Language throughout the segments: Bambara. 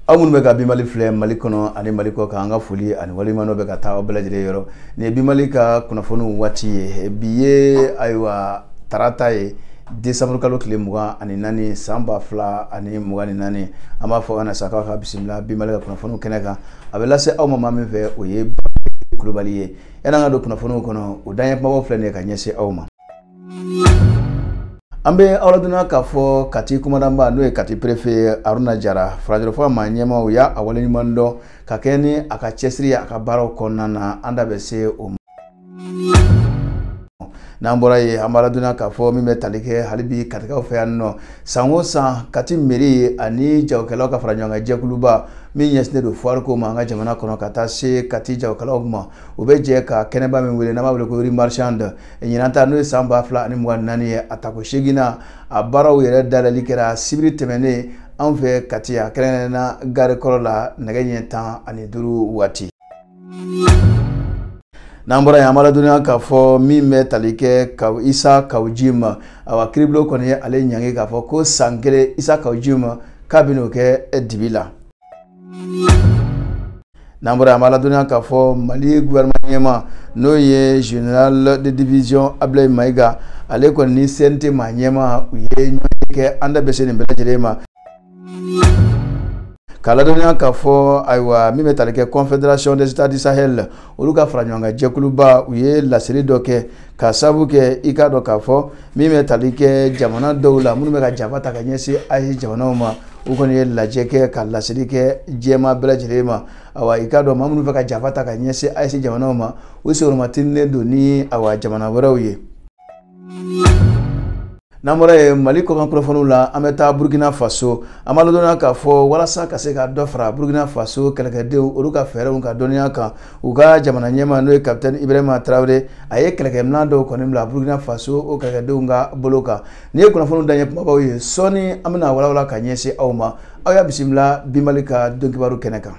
aw minnu bɛ ka bimali filɛ mali kɔnɔ ani mali kɔ kan an ka foli ani waliɲumandɔn bɛ ka taa aw bɛɛ lajɛlen yɔrɔ nin ye bimali ka kunnafoniw waati ye bi ye ayiwa tarata ye desanburu kalo tile mugan ani naani san ba fila ani mugan ni naani an b'a fɔ ka na sa k'aw ka bisimila bimali ka kunnafoniw kɛnɛ kan a bɛ lase aw ma maa min fɛ o ye kulubali ye yan'an ka don kunnafoniw kɔnɔ o daɲɛ kumabaw filɛ nin ye ka ɲɛsin aw ma an bɛ aw ladɔnniya k'a fɔ kati kumandanba n'o ye kati perefe aruna jara farajɛrɛfɔ maa ɲɛmaaw y'a a waleɲuman dɔn ka kɛɲɛ ni a ka cɛsiri ye a ka baaraw kɔnɔna na an da bɛ se o ma n'an bɔra yen an b'a ladɔnniya k'a fɔ min bɛ tali kɛ hali bi katikaw fɛ yan nɔ san o san kati meri ani jagokɛlaw ka fara ɲɔgɔn kan jɛkuluba min ɲɛsinnen don foire ko ma an ka jamana kɔnɔ ka taa se kati jagokɛlaw ma u bɛ jɛ ka kɛnɛba min wele n'an b'a wele ko rue marchande ɲinan ta n'o ye san ba fila ani mugan naani ye a tako seginnan a baaraw yɛrɛ dayɛlɛli kɛra sibiri tɛmɛnen anw fɛ kati a kɛrɛnkɛrɛnna gare kɔrɔ la nɛgɛ ɲɛ tan ani duuru waati n'an bɔra yen an b'a ladɔnniya k'a fɔ min bɛ tali kɛ a isa kawu jim awa kiribulon kɔni ye ale ɲangi k'a fɔ ko san kelen isa kawu jim k'a bɛn'o kɛ dibi la n'an bɔra an b'a ladɔnniya k'a fɔ mali gouvernement ɲɛmaa n'o ye général de division ablaye mayiga ale kɔni ni cnt maa ɲɛmaaw ye ɲɔgɔnye kɛ an da bɛ se nin bɛɛ lajɛlen ma k'a ladɔnniya k'a fɔ ayiwa min bɛ tali kɛ confédération des états du sahel olu ka fara ɲɔgɔn kan jɛkuluba u ye laseli dɔ kɛ k'a sababu kɛ i k'a dɔn k'a fɔ min bɛ tali kɛ jamana dɔw la minnu bɛ ka janfa ta ka ɲɛsin aes jamanaw ma u kɔni ye lajɛ kɛ ka laseli kɛ diɲɛmaa bɛɛ lajɛlen ma awa i k'a dɔn maa minnu bɛ ka janfa ta ka ɲɛsin aes jamanaw ma u senkɔrɔma tintinnen don ni awa jamana wɛrɛw ye n'an bɔra yen mali kɔkan kunnafoniw la an bɛ taa burkina faso an b'a ladɔnniya k'a fɔ walasa ka se ka dɔ fara burkina faso kɛlɛkɛdenw olu ka fɛɛrɛw ka dɔnniya kan u ka jamana ɲɛmaa n'o ye kapitɛn ibrahima tarawele a ye kɛlɛkɛminɛn dɔw kɔni bila burkina faso o kɛlɛkɛdenw ka bolo kan nin ye kunnafoniw daɲɛ kumabaw ye sɔɔni an bɛn'a walawala ka ɲɛsin aw ma aw y'a bisimila bimali ka donkibaru kɛnɛ kan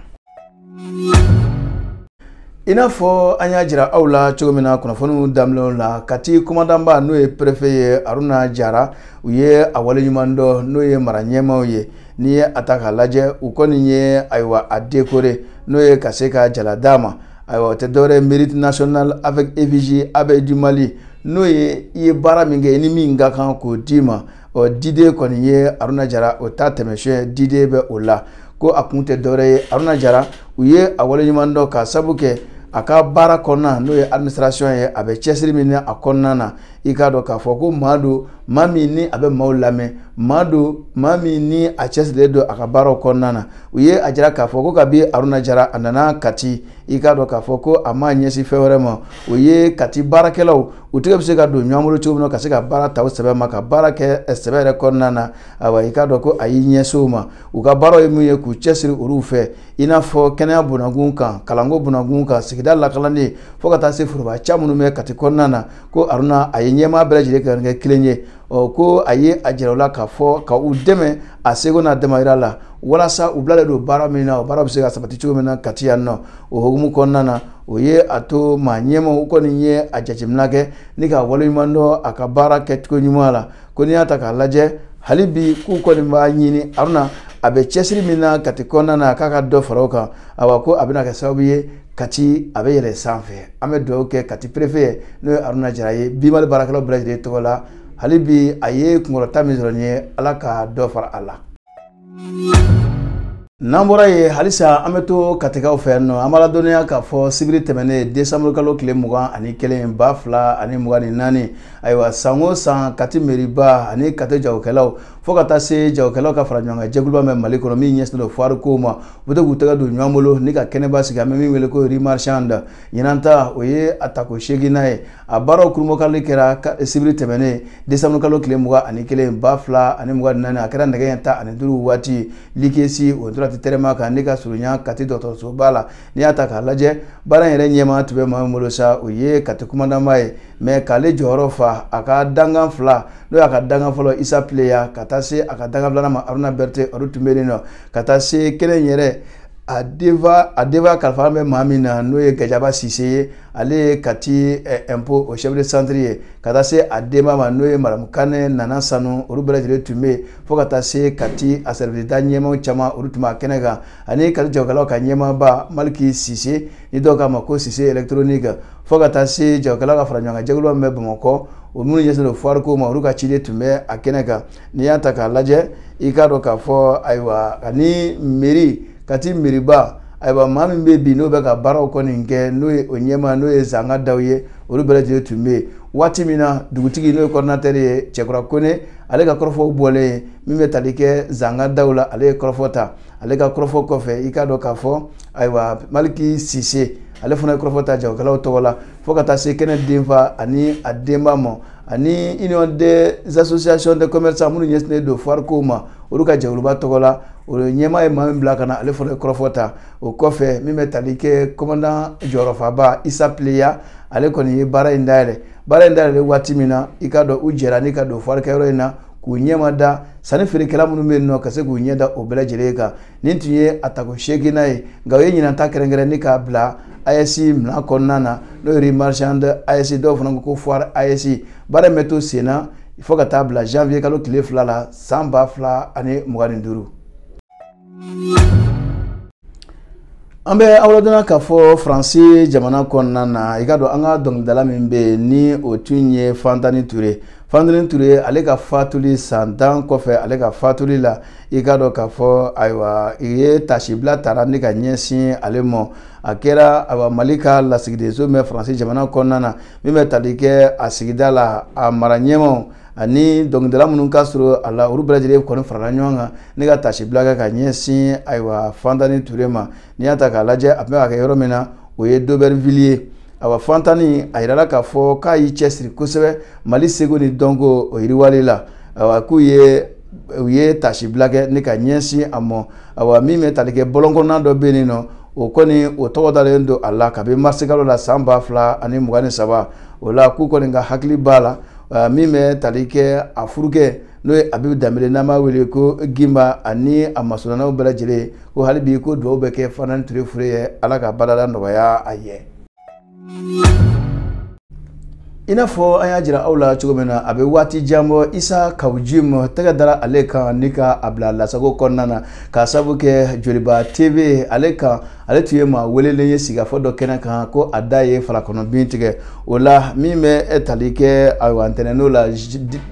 i n'a fɔ an y'a jira aw la cogo min na kunnafoniw daminɛw la kati kɔmandanba n'o ye perefe ye aruna jara u ye a waleɲuman dɔn n'o ye mara ɲɛmaaw ye n'i ye a ta k'a lajɛ u kɔni ye ayiwa a dekore n'o ye ka se ka jala d'a ma ayiwa o tɛ dɔwɛrɛ mérite national avec effigie abeille du mali n'o ye i ye baara min kɛ i ni min ka kan k'o d'i ma ɔ diden kɔni ye aruna jara o ta tɛmɛsiyɛn diden bɛ o la ko a kun tɛ dɔwɛrɛ ye aruna jara u ye a waleɲuman dɔn ka sabu kɛ a ka baara kɔnɔna n'o ye administration ye a bɛ cɛsiri min na a kɔnɔna na i k'a dɔn k'a fɔ ko maa don maa min ni a bɛ maaw lamɛn maa don maa min ni a cɛsirilen don a ka baaraw kɔnɔna na u ye a jira k'a fɔ ko kabi aruna jara a nana kati i k'a dɔn k'a fɔ ko a ma ɲɛsin fɛn wɛrɛ ma o ye kati baarakɛlaw u tɛgɛ bɛ se ka don ɲɔgɔn bolo cogo min na ka se ka baara ta o sɛbɛ ma ka baara kɛ eh, sɛbɛ yɛrɛ kɔnɔna na ayiwa i k'a dɔn ko a y'i ɲɛsin o ma u ka baaraw ye min ye k'u cɛsiri olu fɛ i n'a fɔ kɛnɛya bunakun kan kalanko bunakun kan sigida lakanani fo ka taa se foroba ca minnu bɛ kati kɔnɔna na ko aruna a ye ɲɛmaa bɛɛ lajɛlen kɛ kɛ kelen ye ɔ ko a ye a jira u la k'a fɔ ka u dɛmɛ a seko n'a damayira la walasa u bilalen don baara min na o baara bɛ se ka sabati cogo min na kati yan nɔ o hukumu kɔnɔna na o ye a to maa ɲɛmaaw u kɔni ye a jateminɛ kɛ ni ka waleɲuman dɔn a ka baara kɛcogo ɲuman la ko n'i y'a ta k'a lajɛ hali bi k'u kɔni b'a ɲini aruna a bɛ cɛsiri min na kati kɔnɔna na k'a ka dɔ fara o kan awa ko a bɛna kɛ sababu ye kati a bɛ yɛlɛ sanfɛ an bɛ dugawu kɛ kati perefe ye n'o ye aruna jara ye bimali baarakɛlaw bɛɛ lajɛlen tɔgɔ la hali bi a ye kunkɔrɔta min sɔrɔ nin ye ala ka dɔ fara a la n'an bɔra yen halisa an bɛ to katikaw fɛ yan nɔ an b'a ladɔnniya k'a fɔ sibiri tɛmɛnen desanburu kalo tile mugan ani kelen ba fila ani mugan ni naani ayiwa san o san kati meriba ani kati jagokɛlaw fo ka taa se jagokɛlaw ka fara ɲɔgɔn kan jɛkuluba bɛ mali kɔnɔ min ɲɛsinnen don fuwariko ma u bɛ to k'u tɛgɛ don ɲɔgɔn bolo ni ka kɛnɛba sigi an bɛ min wele ko rue marchande ɲinan ta o ye a tako seeginnan ye a baaraw kurunbonkari kɛra sibiri tɛmɛnen desanburu kalo tile mugan ani kelen ba fila ani mugan ni naani a kɛra nɛgɛ ɲɛ tan ani duuru waati likesi o tora ti tɛrɛnba kan n'a ka surunya kati dɔgɔtɔrɔsoba la n'i y'a ta k'a lajɛ baara in yɛrɛ ɲɛmaa tun bɛ maa min bolo sa o ye kati kumandanba ye mɛ k'ale jɔyɔrɔ fa a ka dangan fila n'o y'a ka dangan fɔlɔ isa pileya ka taa se a ka dangan filanan ma aruna berete olu tun bɛ yen nɔ ka taa se kɛnɛ yɛrɛ a denfa a denfa kalifa bɛ maa min na n'o ye gajaba sise ye ale ye kati ɛnpo o chef de centre ye ka taa se a denba ma n'o ye madamu kane nana sanu olu bɛɛ lajɛlen tun bɛ yen fo ka taa se kati a sɛriwisida ɲɛmaaw caman olu tun b'a kɛnɛ kan ani kati jagokɛlaw ka ɲɛmaaba maliki sise ni dɔw k'a ma ko sise électronique fo ka taa se jagokɛlaw ka fara ɲɔgɔn kan jɛkulu min bɛ bamakɔ o minnu ɲɛsinnen don fuwariko ma olu ka ciden tun bɛ a kɛnɛ kan n'i y'a ta k'a lajɛ i k'a dɔn k'a fɔ ayiwa ani meri kati meriba ayiwa maa min bɛ bi n'o bɛ ka baaraw kɔni kɛ n'o ye o ɲɛmaa n'o ye zanga daw ye olu bɛɛ lajɛlen tun bɛ yen waati min na dugutigi n'o ye kɔridinatɛri ye cɛkura kone ale ka kɔrɔfɔw bɔlen yen min bɛ tali kɛ zanga daw la ale ye kɔrɔfɔ ta ale ka kɔrɔfɔ kɔfɛ i k'a dɔn k'a fɔ ayiwa maliki sise ale fana ye kɔrɔfɔ ta jagokɛlaw tɔgɔ la fo ka taa se kɛnɛ denfa ani a denba ma ani union des associations de commerçants minnu ɲɛsinnen don foire kow ma olu ka jɛkuluba tɔgɔ la o ɲɛmaa ye maa min bila ka na ale fana ye kɔrɔfɔ ta o kɔfɛ min bɛ tali kɛ kɔmandan jɔyɔrɔfaba isa pileya ale kɔni ye baara in dayɛlɛ baara in dayɛlɛ waati min na i k'a dɔn u jɛra ni ka don foire kɛyɔrɔ in na k'u ɲɛma da sanni feerekɛla minnu bɛ yen nɔ ka se k'u ɲɛ da o bɛɛ lajɛlen kan nin tun ye a tako seeginnan ye nka o ye ɲinan ta kɛrɛnkɛrɛn ni k'a bila AES mina kɔnɔna na n'o ye marchand AES dɔw fana ko foire AES baara in bɛ to sen na fo ka taa bila janvier kalo tile fila la san ba fila ani mugan ni duuru. an bɛ aw ladɔnniya k'a fɔ faransi jamana kɔnɔna na i k'a dɔn an ka dɔnkilidala min bɛ yen ni o tun ye fantani ture Fantani Ture ale ka fatuli san tan kɔfɛ ale ka fatuli la i k'a dɔn k'a fɔ ayiwa i ye taasibila tara ni ka ɲɛsin ale mɔ a kɛra ayiwa mali ka lasigidenso min bɛ faransi jamana kɔnɔna na min bɛ tali kɛ a sigida la a mara ɲɛmaaw ani dɔnkilidala minnu ka surun a la olu bɛɛ lajɛlen kɔni farala ɲɔgɔn kan ni ka taasibila kɛ ka ɲɛsin ayiwa fantani ture ma n'i y'a ta k'a lajɛ a tun bɛ ka kɛ yɔrɔ min na o ye d'Aubervilliers ye awa Fantani a yirala k'a fɔ k'a y'i cɛsiri kosɛbɛ Mali seko ni dɔnko o yiriwali la awa k'u ye taasibila kɛ ni ka ɲɛsin a mɔ awa min bɛ tali kɛ bɔlɔn kɔnɔna dɔ bɛ yen nɔ o kɔni o tɔgɔ dalen don a la kabi marisikalo la san ba fila ani mugan ni saba o la k'u kɔni ka hakili b'a la min bɛ tali kɛ a furukɛ n'o ye abibu danbele n'an b'a wele ko gimba ani a masurunanaw bɛɛ lajɛlen ko hali bi ko dugawu bɛ kɛ fantani ture fure ye ala ka baarada nɔgɔya a ye i n'a fɔ an y'a jira aw la cogo min na a bɛ waati jan bɔ isa kawu jim tɛgɛ dara ale kan ni ka a bila lasago kɔnɔna na k'a sabu kɛ joliba tv ale kan ale tun ye maa welelen ye sigikafɔ dɔ kɛnɛ kan ko a da ye fala kɔnɔ bin tigɛ o la min bɛ tali kɛ ayiwa ntɛnɛn don na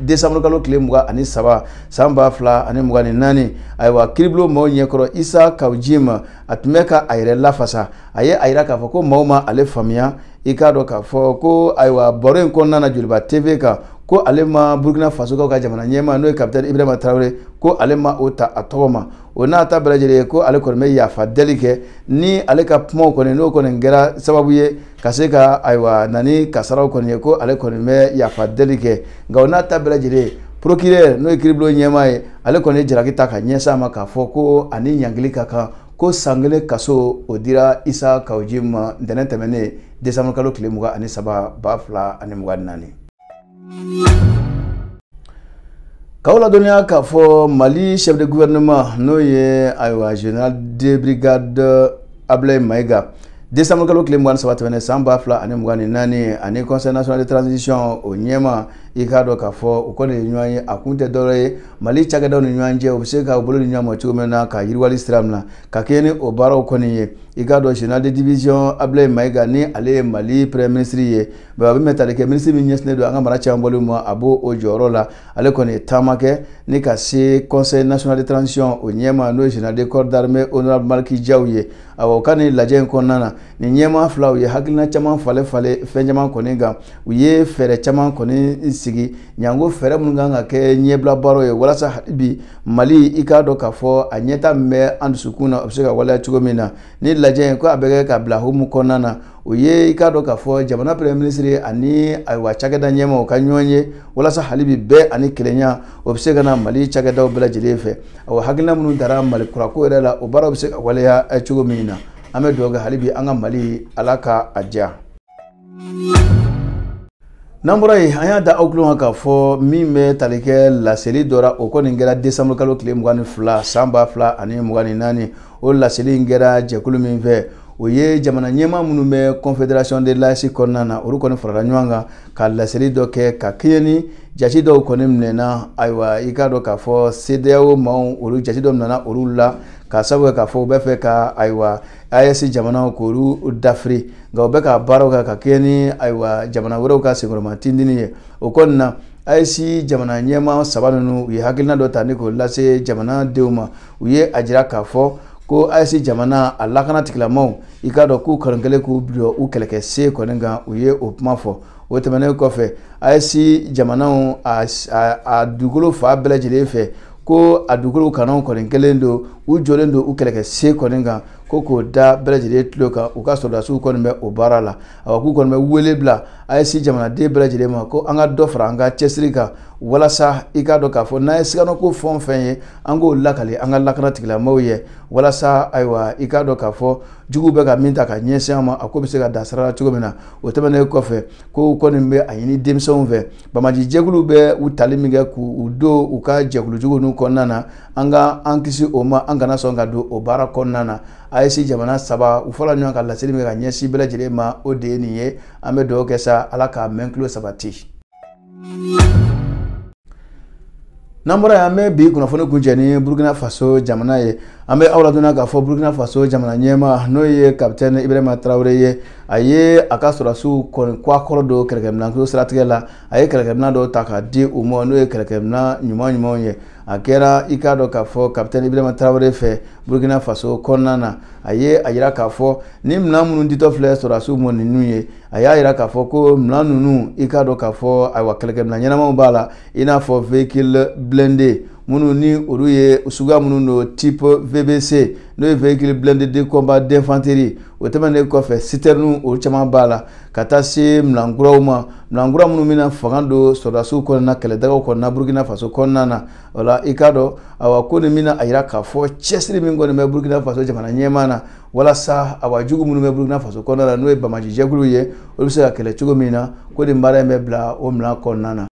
desanburu kalo tile mugan ani saba san ba fila ani mugan ni naani ayiwa kiribulon maaw ɲɛkɔrɔ isa kawu jim a tun bɛ ka a yɛrɛ lafasa a ye a yira k'a fɔ ko maaw ma ale faamuya i k'a dɔn k'a fɔ ko ayiwa baro in kɔnɔna na joliba tv kan ko ale ma burukina fasokaw ka jamana ɲɛmaa n'o ye kapitɛni ibrahima tarawele ko ale ma o ta a tɔgɔ ma o n'a ta bɛɛ lajɛlen ye ko ale kɔni bɛ yafa deli kɛ ni ale ka kumaw kɔni n'o kɔni kɛra sababu ye ka se ka ayiwa na ni kasaraw kɔni ye ko ale kɔni bɛ yafa deli kɛ nka o n'a ta bɛɛ lajɛlen ye procureur n'o ye kiribulon ɲɛmaa ye ale kɔni ye jalaki ta ka ɲɛsin a ma k'a fɔ ko a ni ɲangili ka kan ko san kelen kaso o dira isa kawu jim ma ntɛnɛn tɛmɛnen desanburukalo tile mugan ani saba ba fila ani mugan ni naani K'aw ladɔnniya k'a fɔ Mali chef de gouvernement n'o ye ayiwa général de brigade Ablaye Mayiga décembre kalo tile mugan ni saba tɛmɛnen san ba fila ani mugan ni naani ani conseil national de transition o ɲɛmaa i k'a dɔn k'a fɔ u kɔni ye ɲɔgɔn ye a kun tɛ dɔwɛrɛ ye mali cakɛdaw ni ɲɔgɔn cɛ u bɛ se ka bolo di ɲɔgɔn ma cogo min na ka yiriwali sira min na ka kɛɲɛ ni o baaraw kɔni ye i k'a dɔn général de division ablaye mayiga ni ale ye mali premier ministre ye Bon a bɛ min bɛ tali kɛ minisiri min ɲɛsinnen don an ka mara cɛmabɔli ma a b'o jɔyɔrɔ la ale kɔni ye taama kɛ ni ka se conseil national de transition o ɲɛmaa n'o ye général de corps d'armée honorable Maliki Diaw ye awa u ka nin lajɛ in kɔnɔna na nin ɲɛmaa fila u ye hakilina caman falen falen fɛn caman kɔni kan u ye fɛɛrɛ caman kɔni sigi janko fɛɛrɛ minnu kan ka kɛ ɲɛbila baaraw ye walasa hali bi Mali i k'a dɔn k'a fɔ a ɲɛta min bɛ an dusukun na o bɛ se ka waleya cogo min na nin lajɛ in ko a bɛ kɛ ka bila hukumu kɔnɔna na o ye i k'a dɔn k'a fɔ jamana premier ministre ani ayiwa cakɛda ɲɛmaaw ka ɲɔgɔn ye walasa hali bi bɛn ani kelenya o bɛ se ka na mali cakɛdaw bɛɛ lajɛlen fɛ awa hakilina minnu tara mali kurako yɛrɛ la o baaraw bɛ se ka waleya eh, cogo min na an bɛ dugawu kɛ hali bi an ka mali ala ka a diya n'an bɔra yen an y'a da aw tulo kan k'a fɔ min bɛ tali kɛ laseli dɔ ra o kɔni kɛra décembre kalo tile mugan ni fila san ba fila ani mugan ni naani o laseli in kɛra jɛkulu min fɛ o ye jamana ɲɛmaa minnu bɛ confédération de l'AES kɔnɔna na olu kɔni farala ɲɔgɔn kan ka laseli dɔ kɛ ka kɛɲɛ ni jate dɔw kɔni minɛna ayiwa i k'a dɔn k'a fɔ CEDEAO maaw olu jate dɔ minɛna olu la ka sabu kɛ k'a fɔ u bɛ fɛ ka ayiwa AES jamanaw k'olu dafiri nka u bɛ ka baaraw kɛ ka kɛɲɛ ni ayiwa jamana wɛrɛw ka senkɔrɔma tindini ye o kɔni na AES jamana ɲɛmaa saba ninnu u ye hakilina dɔ ta ni k'o lase jamanadenw ma u ye a jira k'a fɔ ko AES jamana a lakana tigilamaaw i k'a dɔn k'u kɔni kɛlen k'u bila u kɛlɛkɛsen kɔni kan u ye o kuma fɔ o tɛmɛnen kɔfɛ AES jamanaw a dugukolo fan bɛɛ lajɛlen fɛ ko a dugukolo kananw kɔni kɛlen don u jɔlen don u kɛlɛkɛsen kɔni kan ko k'o da bɛɛ lajɛlen tulo kan u ka sɔrɔdasiw kɔni bɛ o baara la awa k'u kɔni bɛ wele bila AES jamanaden bɛɛ lajɛlen ma ko an ka dɔ fara an ka cɛsiri kan walasa i k'a dɔn k'a fɔ n'an ye siganako fɛn o fɛn ye an k'o lakali an ka lakana tigilamaaw ye walasa ayiwa i k'a dɔn k'a fɔ juguw bɛ ka min ta ka ɲɛsin an ma a ko bɛ se ka dan sira la cogo min na o tɛmɛnen kɔfɛ k'u kɔni bɛ a ɲini denmisɛnw fɛ banbaanci jɛkulu bɛ u tali min kɛ k'u don u ka jɛkulujugu ninnu kɔnɔna na an ka an kisi o ma an kana sɔn ka don o baara kɔnɔna na AES jamana saba u fara ɲɔgɔn kan laseli min ka ɲɛsin bɛɛ lajɛlen ma o de ye nin ye an bɛ dugawu kɛ sa ala k'a mɛn tulo sabati n'an bɔra yen an bɛ bi kunnafoni kuncɛ ni burukina faso jamana ye an bɛ aw ladɔnniya k'a fɔ burukina faso jamana ɲɛmaa n'o ye kapitɛni ibrahima tarawele ye a ye a ka sɔrɔdasiw kɔni kɔkɔrɔdon kɛlɛkɛminɛnko siratigɛ la a ye kɛlɛkɛminɛn dɔw ta k'a di u ma n'o ye kɛlɛkɛminɛn ɲuman ɲumanw ye a kɛra i k'a dɔn k'a fɔ kapitɛn ibrahima tarawele fɛ burkina faso kɔnɔna na a ye a yira k'a fɔ ni minɛn minnu ditɔ filɛ sɔrɔdasiw ma ninnu ye a y'a yira k'a fɔ ko minɛn ninnu i k'a dɔn k'a fɔ ayiwa kɛlɛkɛminɛn ɲɛnamaw b'a la i n'a fɔ véhicule blindé minnu ni olu ye suguya minnu don type VBC n'o ye véhicule blindé de combat d'infanterie o tɛmɛnen kɔfɛ citerne olu caman b'a la ka taa se minɛn kuraw ma Minɛn kura minnu bɛna fanga don sɔrɔdasiw kɔnɔna kɛlɛdagaw kɔnɔna Burkina Faso kɔnɔna na o la i k'a dɔn awa ko nin bɛna a yira k'a fɔ cɛsiri min kɔni bɛ Burkina Faso jamana ɲɛmaa na walasa awa jugu minnu bɛ Burkina Faso kɔnɔna na n'o ye banbaanci jɛkuluw ye olu bɛ se ka kɛlɛ cogo min na ko nin baara in bɛ bila o minɛn kɔnɔna na.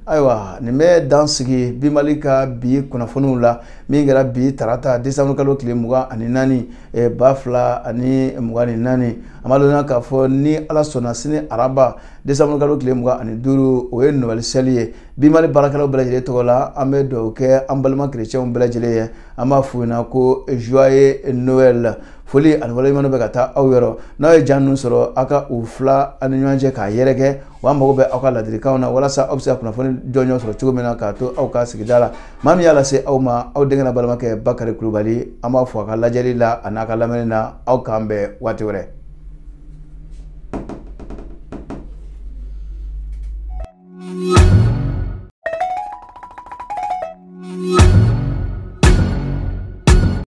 ayiwa nin bɛ dan sigi bi mali ka bi kunnafoniw la min kɛra bi tarata desanburu kalo tile mugan ani naani eh, ba fila ani mugan ni naani an b'a dɔnna k'a fɔ ni ala sɔnna sini araba desanburu kalo tile mugan ani duuru o ye noel seli ye bi mali baarakɛlaw bɛɛ lajɛlen tɔgɔ la an bɛ dugawu kɛ an balima kerecɛnw bɛɛ lajɛlen ye an b'a f'u ɲɛna ko joyeux noel foli ani waleɲuman bɛ ka taa aw yɔrɔ n'aw ye ja ninnu sɔrɔ aw ka u tila aw ni ɲɔgɔn cɛ k'a yɛrɛkɛ wa mago bɛ aw ka ladilikanw na walasa aw bɛ se ka kunnafoni jɔnjɔn sɔrɔ cogo min na k'a to aw ka sigida la maa min y'a lase aw ma aw denkɛ n'aw balimakɛ bakari kulubali an b'aw fo aw ka lajɛli la ani aw ka lamɛnni na aw k'an bɛn waati wɛrɛ